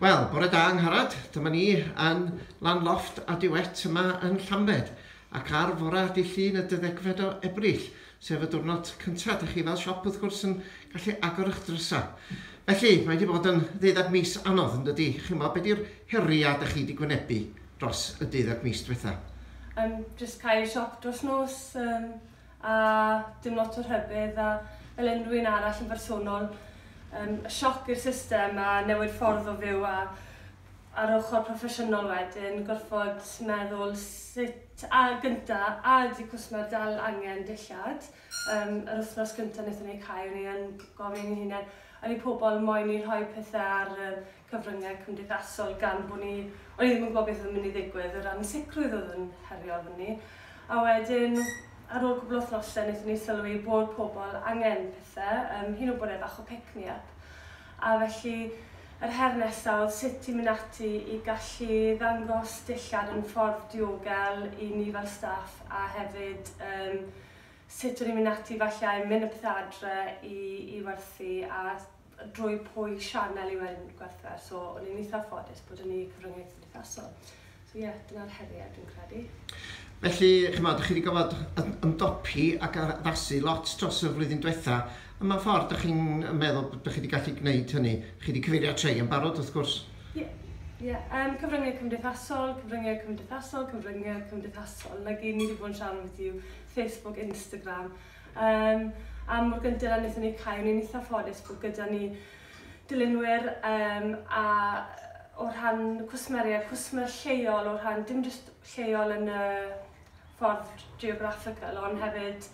Wel, bore da yng Ngharad. Dyma ni yn lan loft a diwet yma yn Llambed. Ac ar fore di llun y dyddegfed o Ebrill, sef y diwrnod cyntaf, dych chi fel siop wrth gwrs yn gallu agor eich drysau. Felly, mae wedi bod yn ddeuddag mis anodd yn dydy. Chimo, beth yw'r heriau dych chi wedi gwynebu dros y deuddag mis diwetha? Um, just cael siop dros nos, um, a dim lot o rhybudd a fel unrhyw un arall yn bersonol um, sioc i'r system a newid ffordd o fyw a ar ochr proffesiynol wedyn gorfod meddwl sut a gynta a ydy cwsmer dal angen dillad um, yr wythnos gynta wnaethon ni cael ni yn gofyn i hunain a ni pobl moyn i rhoi pethau ar y cyfryngau cymdeithasol gan bod ni... o'n i ddim yn gwybod beth oedd yn mynd i ddigwydd, yr ansicrwydd oedd yn herio arno ni. A wedyn, ar ôl cwpl o wythnosau, wnaethon ni sylwi bod pobl angen pethau, um, hyd yn oed bod e fach o pick-me-up. A felly, yr her nesaf oedd sut i mynd ati i gallu ddangos dillad yn ffordd diogel i ni fel staff a hefyd um, sut o'n i'n mynd ati falle i mynd â pethau adre i, i werthu a drwy pwy sianel yw e'n gwerthfawr so o'n i'n eitha ffodus bod yn eu cyfrynge cymdeithasol. So ie, yeah, dyna'r heriau dwi'n credu. Felly, chymod, dych chi wedi gofod ymdopi ac addasu lot dros y flwyddyn diwetha. Y mae ffordd dych chi'n meddwl bod chi wedi gallu gwneud hynny? Chi wedi cyfeirio at rhai yn barod, wrth gwrs. Ie, yeah. yeah. um, cyfryngau cymdeithasol, cyfryngau cymdeithasol, cyfryngau cymdeithasol. Like, ni wedi bod yn siarad beth yw Facebook, Instagram, Um, am mor gynted a wnaethon ni cael, ni'n eitha ffodus bod gyda ni dilynwyr um, a o rhan cwsmeriaid, cwsmer lleol, o rhan dim jyst lleol yn y ffordd geographical, ond hefyd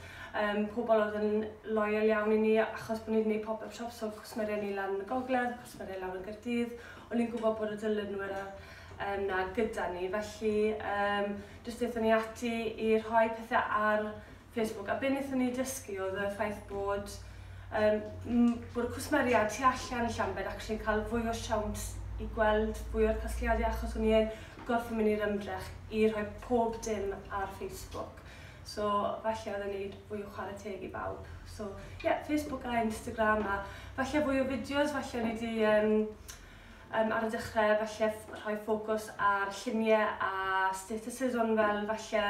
um, pobl oedd yn loyal iawn i ni, achos bod ni'n gwneud pop-up shops o cwsmeriaid ni lan yn y gogledd, cwsmeriaid lawr yn Gyrdydd, o'n ni'n gwybod bod y dilynwyr um, na gyda ni, felly um, jyst eithon ni ati i rhoi pethau ar Facebook a be wnaethon ni dysgu oedd y ffaith bod yym m- bod y cwsmeriaid tu allan i Llambed actually yn cael fwy o siawns i gweld fwy o'r casgliadau achos o'n i yn gorfod mynd i'r ymdrech i rhoi pob dim ar Facebook. So falle oedd e'n neud fwy o chwarae teg i bawb. So ie, yeah, Facebook a Instagram a falle fwy o fideos, falle o'n i wedi um, um, ar y dechrau falle rhoi ffocws ar lluniau a statuses ond fel falle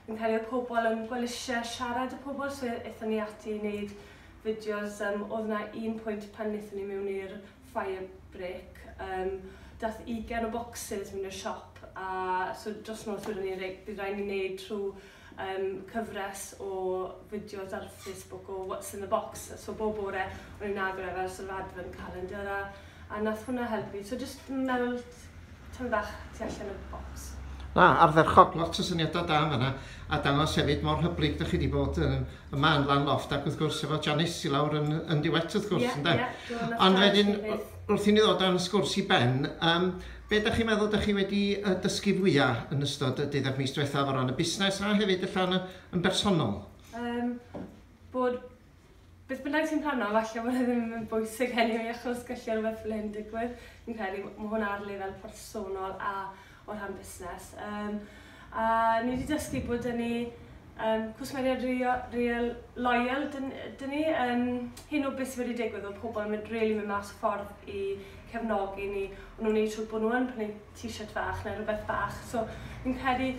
Fi'n credu oedd pobl yn fel isie siarad y pobl so ethon ni ati i neud fideos yym odd 'na un pwynt pan nethon ni mewn i'r fire break yym dath ugen o bocsys mewn i'r siop a so dros nos wedon ni reit bydd rai' ni neud trw yym cyfres o fideos ar Facebook o what's in the box so bob bore o'n ni'n agor e fel sort of advent calendar a a wnaeth hwnna helpu fi. So jyst meddwl tamed bach tu allan y bocs. Na, ardderchog, lot o syniadau da yn fanna, a dangos hefyd mor hyblyg dych chi wedi bod yn, yma yn Lan Loft ac wrth gwrs efo Janice i lawr yn, yn Diwet wrth gwrs, ynde? Ie, ie, dwi'n meddwl. Ond wedyn, wrth i ni ddod â'n sgwrs i ben, um, be da chi'n meddwl da chi wedi uh, dysgu fwyaf yn ystod y deuddeg mis diwethaf o ran y busnes a hefyd allan yn bersonol? Um, bod Beth bynnag sy'n rhannol, falle bod e ddim yn mynd bwysig anyway achos gallu rhywbeth fel hyn digwydd. Fi'n credu mae hwn ar lefel personol a o rhan busnes. Um, a ni wedi dysgu bod dyn ni um, cwsmeriaid real, real loyal dyn, dyn ni um, hyn o beth sydd wedi digwydd o pobl yn mynd, really mynd mas o ffordd i cefnogi ni. Ond nhw'n ei trwy bod nhw'n prynu t-shirt fach neu rhywbeth bach. So fi'n credu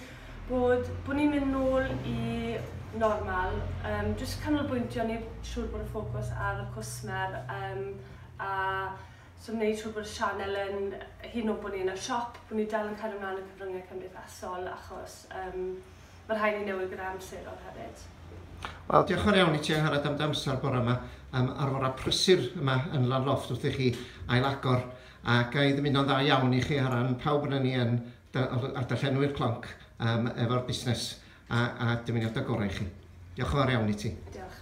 bod, bod ni'n mynd nôl i normal, um, jyst canolbwyntio, wneud siŵr bod y ffocws ar y cwsmer um, a so wneud siŵr bod y sianel yn hyn o bod ni yn y siop, bod ni dal yn cario mlaen y cyfryngau cymdeithasol achos um, mae rhaid ni newid gyda amserol hefyd. Wel, diolch yn fawr iawn i ti Angharad am dy amser bore yma, um, ar fore prysur yma yn Lanloft wrth i chi ailagor Ac ga i ddymuno'n dda iawn i chi ar ran pawb ohonan ni yn dy- o- a darllenwyr Clonc yym efo'r busnes a a dymuniadau gorau i chi. Diolch yn fawr iawn i ti. Diolch.